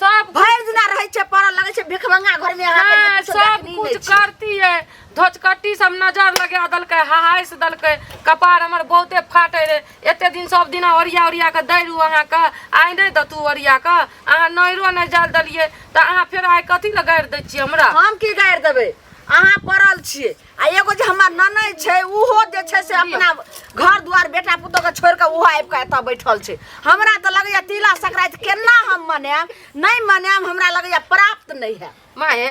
सब भरि दिना रहै छै पड़ल लगै छै भिखमंगा घर में अहाँ नहीं, के सब कुछ करती है धोचकट्टी सब नजर लगा दलकै हहाइस दलकै कपार हमर बहुते फाटे रे एते दिन सब दिना ओरिया ओरिया के दै रहू अहाँ के आइ नहि दतू ओरिया के अहाँ नैरो नहि जाल देलियै तऽ अहाँ फेर आइ कथी लए गाड़ि दै छियै हमरा हम की गाड़ि देबै अहाँ पड़ल छियै आ एगो जे हमर ननद छै उहो जे छै से अपना घर दुआर बेटा पुतोह के छोड़ के उहो आबि के एतऽ बैठल छै हमरा तऽ लगैया तिला संक्रांति केना हम मनाएब नहि मनाएब हमरा लगैया प्राप्त नहि है माए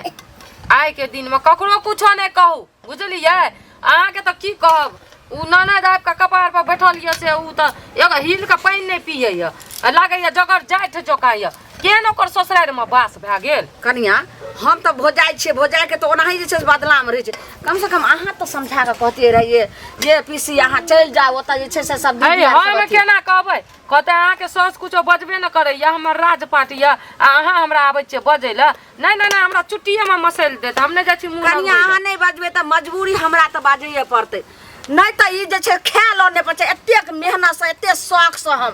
आइ के दिन में ककरो कुछो नहीं कहू बुझलियै अहाँ के तो की कहब उ ननद आबि के कपार पर बैठल ये से उ तो एगो हिल के पानि नहीं पिए ये आ लागैया जकर जाठि जोका ये केहन ओकर ससुरारिमे बास भए गेल कनिया हम तऽ भोजाइ छियै भोजाइके तऽ ओनाही जे छै से बदलामे रहै छै कमसँ कम अहाँ तऽ समझा कऽ कहतियै रहियै जे पीसी अहाँ चलि जाउ ओतऽ जे छै से सब दीदी अरे आर सब हम अथी- केना कहबै कहते अहाँके साउस कुछो बजबे ने करैया हमर राज पाट यऽ आ अहाँ हमरा आबै छियै बजै लए नहि नहि नहि हमरा चुट्टिएमे मसैल देत हम नहि जाइ छी मुँह कनिया लगबै अहाँ लए। नहि बजबै तऽ मजबूरी हमरा तऽ बाजैए पड़तै नहि तऽ ई जे छै खाय लऽ नहि पड़ै छै एतेक मेहनतसँ एतेक शौकसँ हम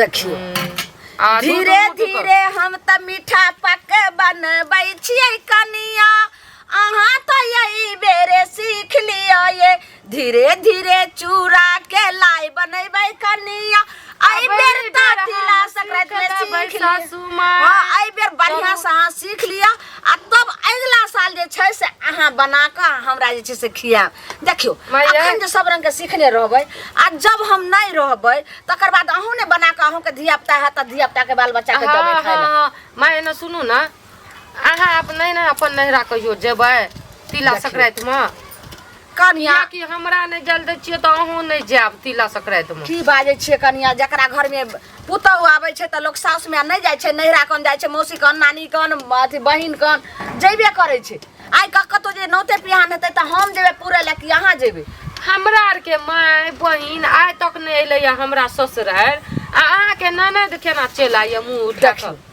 देखियो आ दूध धीरे मुँह की धीरे हम त मीठा पक बनबै छियै कनिया अहाँ तो यही बेरे सीख लियो ये धीरे धीरे चूड़ा के लाई बनैबै कनिया एहि बेर त तिला संक्रांति में सीख लियो सासू माँ हाँ एहि बेर बढ़िया से अहाँ सीख लिअ आ तब अगिला साल जे छै से अहाँ बना कऽ हमरा जे छै से खियाब देखियो मैया। अखन जे सब रंग के सीखने रहबै आ जब हम नहि रहबै तकर बाद अहूँ ने बना के अहूँ के धिया पुता है त धिया पुता के बाल बच्चा के देबै हाँ, खाय ला हाँ, माँ एना सुनू ना अहाँ अपन नहीं ना अपन नहरा कहियो जेबै तिला देखियौ। संक्रांति में कनिया या कि हमरा नहीं जल दै छियै तऽ अहूँ नहीं जायब तिला संक्रांति में की बाजै छियै कनिया जकरा घर में पुतहु आबै छै तऽ लोक साउस में नहि जाइ छै नैहरा कन जाइ छै मौसी कन नानी कन अथी बहिन कन जैबे करै छै आइ क कतो जे नौते पिहान हेतै त हम जेबे पूरे ले कि अहाँ जेबे हमरा आर के माय बहिन आइ तक नहीं अलै या हमरा ससुरार आ अहाँ के ननद केना चल आइए मुंह उठा देखियौ। कर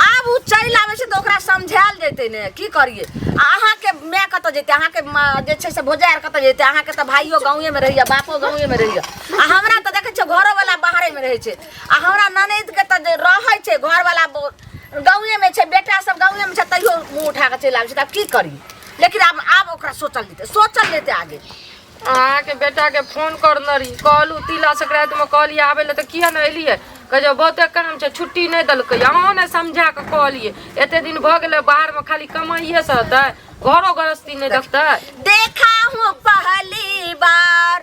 आब उ चलि आबै छै त ओकरा समझायल जेतै ने की करिए आ अहाँ के माय कतो जेतै अहाँ के माँ जे छै से भोजा आर कतो जेतै अहाँ के त भाइयो गांवे में रहैया बापो गांवे में रहैया आ हमरा त देखै छियै घरो वाला बाहरे में रहै छै आ हमरा ननद के तऽ रहै छै घर वाला गाँवे में छै बेटा सब गाँवे में छै तैयो मुँह उठा के चलि आबै छै तऽ आब की करी लेकिन आब आब ओकरा सोचल लेते सोचल लेते आगे अहाँके बेटाके फोन करने रही कहलू तिला संक्रान्तिमे कहलियै आबै लए तऽ किया नहि एलियै कह जो बहुते काम छै छुट्टी नहि देलकै अहाँ ने समझा कऽ कहलियै एते दिन भऽ गेलै बाहरमे खाली कमाइए से हेतै घरो गृहस्थी नहि देखतै देखा हूँ पहली बार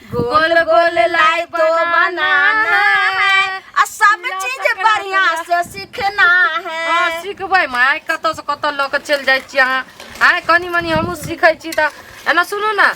गोल गोल लाई तो बनाना है आ सब चीज बढ़िया से सीखना है हाँ सिखबै माय कतऽ से कतऽ लऽ कऽ चलि जाइ छी अहाँ आय कनी मनी हमहूँ सीखै छी तऽ एना सुनू ने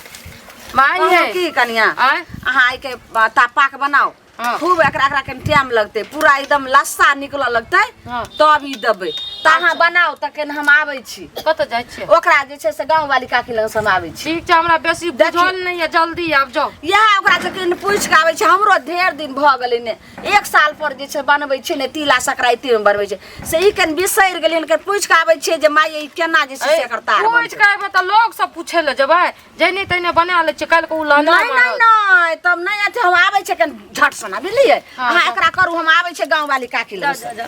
माय कहलहुँ यै की कनिया आय अहाँ आइके तापाक बनाओ हाँ। खूब एकरा एकरा के टाइम लगते पूरा एकदम लस्सा निकलऽ लगते हाँ। तब ई देबै तऽ अहाँ बनाउ तऽ केना हम आबै छी कतऽ जाइ छियै ओकरा जे छै से गाँव वाली काकी लग से हम आबै छी ठीक छै हमरा बेसी देखियौ। बुझल नहि है जल्दी आब जाओ इएह ओकरा से कनि पूछि कऽ आबै छै हमरो ढेर दिन भऽ गेलै ने एक साल पर जे छै बनबै छै ने तिला संक्रान्तिमे बनबै छै से ई कनि बिसरि गेलियै ने कनि पूछि कऽ आबै छियै जे माय ई केना जे छै से एकर तार पूछ बनतै। के एबै तऽ लोग सब पूछे ले जेबै जैने तैने बना ले छै काल्हि के उ लाना नहीं नहीं नहीं तब नहीं आते हम आवे छे कन झट सना बुझलिए हाँ, अहाँ एकरा करू हम आवे छे गांव वाली काकी जा लग जा जा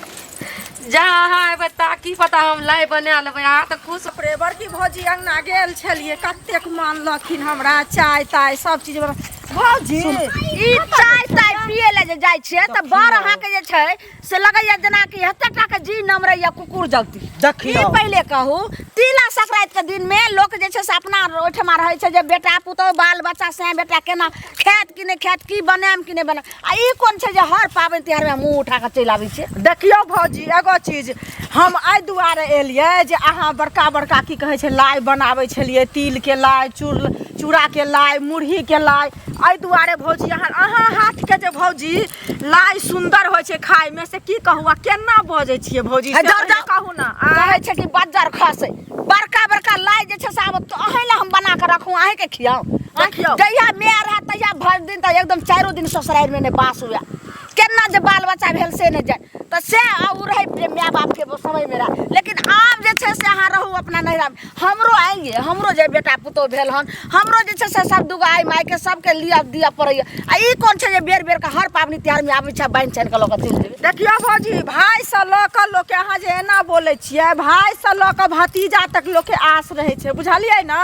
जा अहाँ एबै ता की पता हम लाई बना लेबै अहाँ तऽ खुश रे बड़की भौजी अंगना गेल छलिए कतेक मानलखिन हमरा चाय ताय सब चीज बना भौजी ई चाय ताय पिए ले जे जाइ छिए तऽ बड़ अहाँ के जे छै से लगैया जेना कि एते टा के जी नम रहैया कुकुर जगती ई देखियो पहिले कहू तिला संक्रांति के दिन में लोक जे छै से अपना ओहिठमा रहै छै जे बेटा पुतहु बाल बच्चा से बेटा केना खायत कि नहि खायत की बनायम कि नहि बनायम आ ई कोन छै जे हर पाबनि तिहार में मुंह उठा कऽ चलि आबै छै देखियो भौजी एगो चीज हम एहि दुआरे एलियै जे अहाँ बड़का बड़का की कहै छै लाइ बनाबै छलियै तिलके लाइ चूर चूड़ाके लाइ मुरहीके लाइ एहि दुआरे भौजी अहाँ अहाँ हाथके जे भौजी लाइ सुंदर होइ छै खाय में से की कहू आ केना बजै छियै भौजी से जाउ जाउ कहू ना कहै छै कि बज्जर खसे बड़का बड़का लाइ जे छै से आब अहीं लए हम बना कऽ रखू अहीं के खियाउ जहिया मे रहत तहिया भरि दिन तऽ एकदम चारो दिन ससुरारि में नहि बास हुए केना जे बाल बच्चा भेल से नहि जाय तऽ से ओ रहै माय बापके समयमे रहै लेकिन आब जे छै से अहाँ रहू अपना नैहरामे हमरो आयल ये हमरो जे बेटा पुतहु भेल हन हमरो जे छै से सब दुगो आइ मायके सबके लिअ दिअ पड़ैया आ ई कोन छै जे बेर बेर के हर पाबनि तिहार मे आबै छै बान्हि चानि के लऽ कऽ चलि जेबै देखियौ भौजी भाय से लऽ कऽ लोकके अहाँ जे एना बोलै छियै भाय से लऽ कऽ भतीजा तक लोकके आस रहै छै बुझलियै ने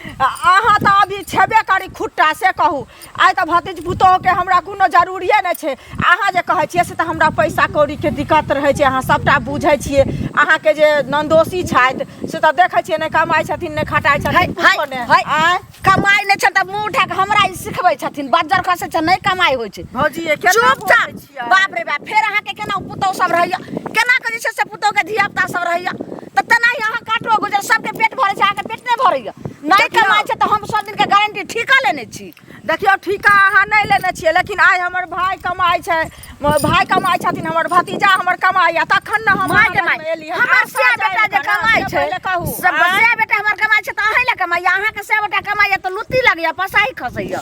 अहाँ तऽ अभी छेबे करी खुट्टा से कहू आइ तऽ भतीज पुतोहके हमरा कोनो जरूरिए नहि छै अहाँ जे कहै छियै से तऽ हमरा पैसा कौड़ीके दिक्कत रहै छै अहाँ सभटा बुझै छियै अहाँके जे नन्दोसी छथि से तऽ देखै छियै नहि कमाइ छथिन नहि खटाइ छथिन कुछो नहि आँय? कमाइ नहि छै तऽ मुँह उठा कऽ हमरा ई सिखबै छथिन बज्जर खसै छै नहि कमाइ होइ छै भौजी ये केना बोलै चुपचाप छियै बाप रे बाप फेर अहाँके केना पुतौह सब रहैया केना करै छै से पुतौह के धिया पुता सब रहैया त तेनाही अहाँ काटो गुजर सबके पेट भरै छै अहाँके पेट नहि भरैया नहि देखियौ। कमाइ छै तऽ हम सब दिन के गारंटी ठीका लेने छी देखियौ ठीका अहाँ नहि लेने छियै लेकिन आइ हमर भाय कमाइ छै म- भाय कमाइ छथिन हमर भतीजा हमर कमाइया तखन ने हम माय अहाँ कमाइ लगमे एलियै। हमर आब से साथ बेटा आबि जे कऽ ने, कमाइ से छै पहिले कहू सब आँय? से बेटा हमर कमाइ छै तऽ अहीं लए कमाइया अहाँके से बेटा कमाइया तऽ लुत्ती लगैया पसाही खसैया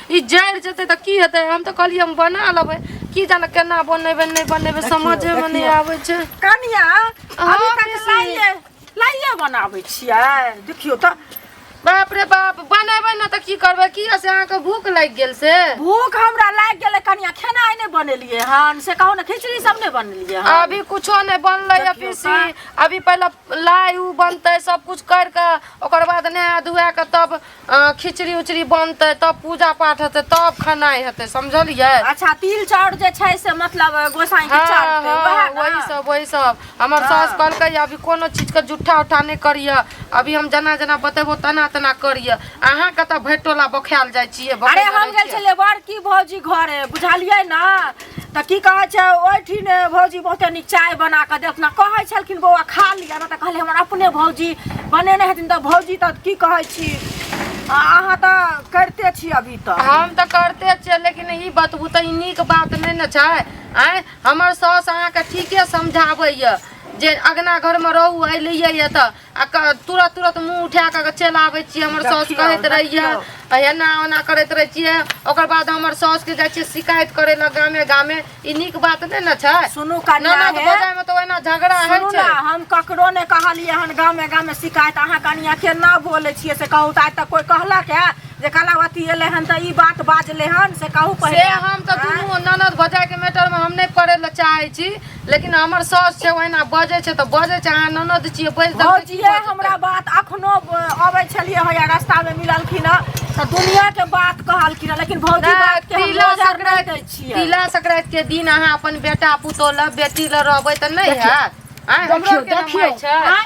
ई जरि जेतै तऽ की हेतै हम तऽ कहलियै हम बना लेबै की जाने केना बनेबै नहि बनेबै समझेमे नहि देखियौ। आबै छै कनिया अभी अहाँ तक बेसी। लाइए लाइए बनाबै छियै देखियौ तऽ बाप रे बाप बनेबै ने तऽ की करबै की से अहाँके भूख लागि गेल से भूख हमरा लागि गेलै कनिया खेनाइ नहि बनेलियै हन से कहू ने खिचड़ी सब नहि बनेलियै हन अभी कुछो नहि बनलै देखियौ अभी से अभी पहिले लाई उ बनतै सब कुछ कर के ओकर बाद नहा धुआ के तब अहाँ खिचड़ी उचड़ी बनतै तब पूजा पाठ हेतै तब खेनाइ हेतै समझलियै अच्छा तिल चाउर जे छै से मतलब गोसाई के हाँ, चढ़तै हाँ, वएह ना? वही सब वही सब हमर हाँ। सास कहलकै अभी कोनो चीज के जुट्ठा उट्ठा नहि करिय अभी हम जेना जेना बतेबो तेना तेना करिय अहाँ कतऽ भैटोला बखायल जाइ छियै अरे बकैला हम रहै गेल छियै। छलियै बड़की भौजी घरे बुझलियै ना तऽ की कहै छै ओहिठिन भौजी बहुते नीक चाय बना कऽ देलखिन आ कहै छलखिन बौआ खा लिअ ने तऽ कहलियै हमर अपने भौजी बनेने हेथिन तऽ भौजी तऽ की कहै छी आ अहाँ तऽ करिते छी अभी तऽ हम तऽ करते छियै लेकिन ई बतबू तऽ ई नीक बात नहि ने छै आँय हमर साउस अहाँके ठीके समझाबैए जे अगना घरमे रहू एलियै यए तऽ आ क- तुरत तुरत मुंह उठा कऽ चलि आबै छियै हमर साउस देखियौ, कहैत रहियै देखियौ। आ एना ओना करैत रहै छियै ओकर बाद हमर साउस के जाइ छियै शिकायत करे लए गामे गामे ई नीक बात नहि ने छै सुनू कनिया ननद हे। भौजाइ मे तऽ ओहिना झगड़ा होइ सुनू छै ने हम ककरो ने कहलियै हन गामे गामे शिकायत अहाँ कनिया केना बोलै छियै से कहू तऽ आइ तक कोइ कहलक है जे कलावती एलै हन तऽ ई बात बाजलै हन से कहू से पहिले हम तऽ आँय? दुनू ननद भौजाइ के मैटर मे हम नहि पड़े लए चाहै छी लेकिन हमर साउस छै ओहिना बजै छै तऽ बजै छै अहाँ ननद छियै बजि देबै तऽ की भौजिए भऽ जेतै? हमरा बात अखनो अबै छलियै हँ या रस्तामे मिललखिन हँ तऽ दुनियाके बात कहलखिन हँ लेकिन भौजी नहि, बातके हम तिला नजर नहि दै संक्रांति छियै तिला संक्रांति के दिन अहाँ अपन बेटा पुतोह लग बेटी लग रहबै तऽ नहि देखियौ, हैत आँय, हमरो देखियौ के ने देखियौ माय छै आँय,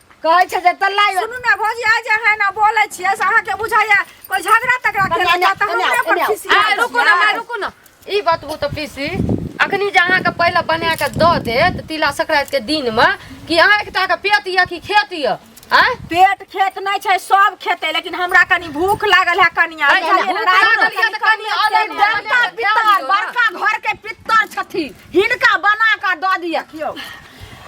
कहै छै जे तल्ला यो सुनू ने भौजी आइ जे है ना बोलै छियै से अहाँके बुझाइया कोइ झगड़ा तगड़ा कन्या, केलक या तऽ कन्या, हमरा पर कन्या। खिसी आ आयल रुकू ना छियै। माय रुकू ना ई बतबू तऽ पीसी अखनी जे अहाँके पहिले बना के दऽ देत तिला संक्रांति के दिन मे कि अहाँ एकटा के पेट यऽ कि खेत यऽ आँय पेट खेत नहीं छै सब खेते लेकिन हमरा कनी भूख लागल है कनिया अरे, बुझलियै, भूख राति लागल है तऽ कनी कनिया अलग देवता बनायल है, पितर ध्यान दियौ ना। बड़का घर के पितर छथिन हिनका बना कऽ दऽ दिअ कियो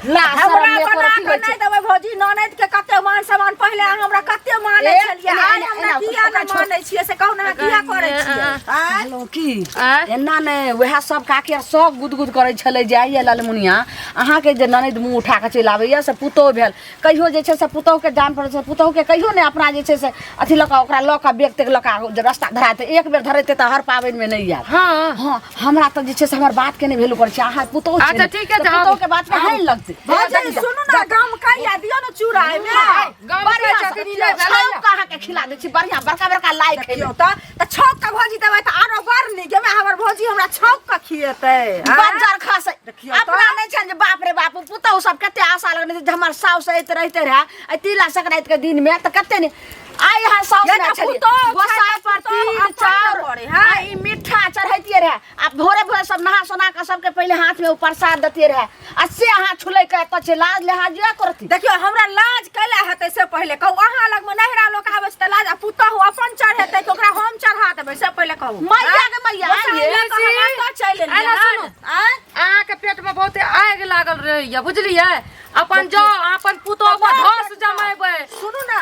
ला हमरा शरम बना कऽ एकोरती नहि देबै भौजी ननद के कते मान सम्मान पहिले अहाँ हमरा कते मानै ए, छलियै एना, आइ एना, हमरा एना, किया ओकरा नहि छोड़। मानै छियै से कहू ने अहाँ किया करै छियै आँय? हेलो की आँय? एना ने वएह सब काकी आर सब गुदगुद करै छलै जे आइए लालमुनिया अहाँके जे ननद मुँह उठा कऽ चलि आबैए से पुतोह भेल कहियो जे छै से पुतहुके जान पड़ै छै पुतहुके कहियो नहि अपना जे छै से अथी लऽ कऽ ओकरा लऽ कऽ बेग तेग लऽ कऽ जे रस्ता धरा तऽ एक बेर धरेतै तऽ हर पाबनिमे नहि आयत हाँ हँ हमरा तऽ जे छै से हमर बातके नहि वैल्यू करै छै अहाँ पुतहु छियै अच्छा, ने, ठीक है, तऽ तऽ आबू। पुतहुके बातके हानि लगतै भौजी सुनू ने गाम कहिया दियो ने चूड़ा एहिमे गाम बढ़िया कहिया से- छाप कऽ अहाँके खिला दै छी बढ़िया बड़का बड़का लाइ खैयौ तऽ त छौक के भौजी देबै त आरो बड़ नीक एमे हमर भौजी हमरा छौक के खिएतै आँय? बंजर खास है। देखियौ तऽ। अपना नहीं छन जे बाप रे बाप पुतहु सब कते आशा लगने जे हमर साउस ऐत रहते रहे आ तिला संक्रांति के दिन में त कते ने आइ यहाँ साउस ये में तऽ छलिए पुतहु गोसाई खाइ पर तऽ पुतहु तिल अपन चाउर पड़ै, हाँ। आ ई मीठा चढ़ैतिए रहे आ भोरे भोरे सब नहा सोना के सबके पहले हाथ में उ प्रसाद देते रहे आ से अहाँ छुलै के एतऽ छै लाज लिहाज जे करती देखियो हमरा लाज कैला हेतै से पहिले कहू अहाँ लग में नहिरा लोक आबै छै तऽ लाज आ पुतहु अपन चढ़ेतै तऽ ओकरा हम चढ़ा देबै से पहिले कहू मैया के मैया गोसाई ये लऽ कऽ हम एतऽ चलि एलियै एना हन। सुनू। आँय? अहाँ के पेट में बहुते आग लागल रहैया बुझलियै अपन जाओ अपन पुतोह पर धस जमेबै सुनू ने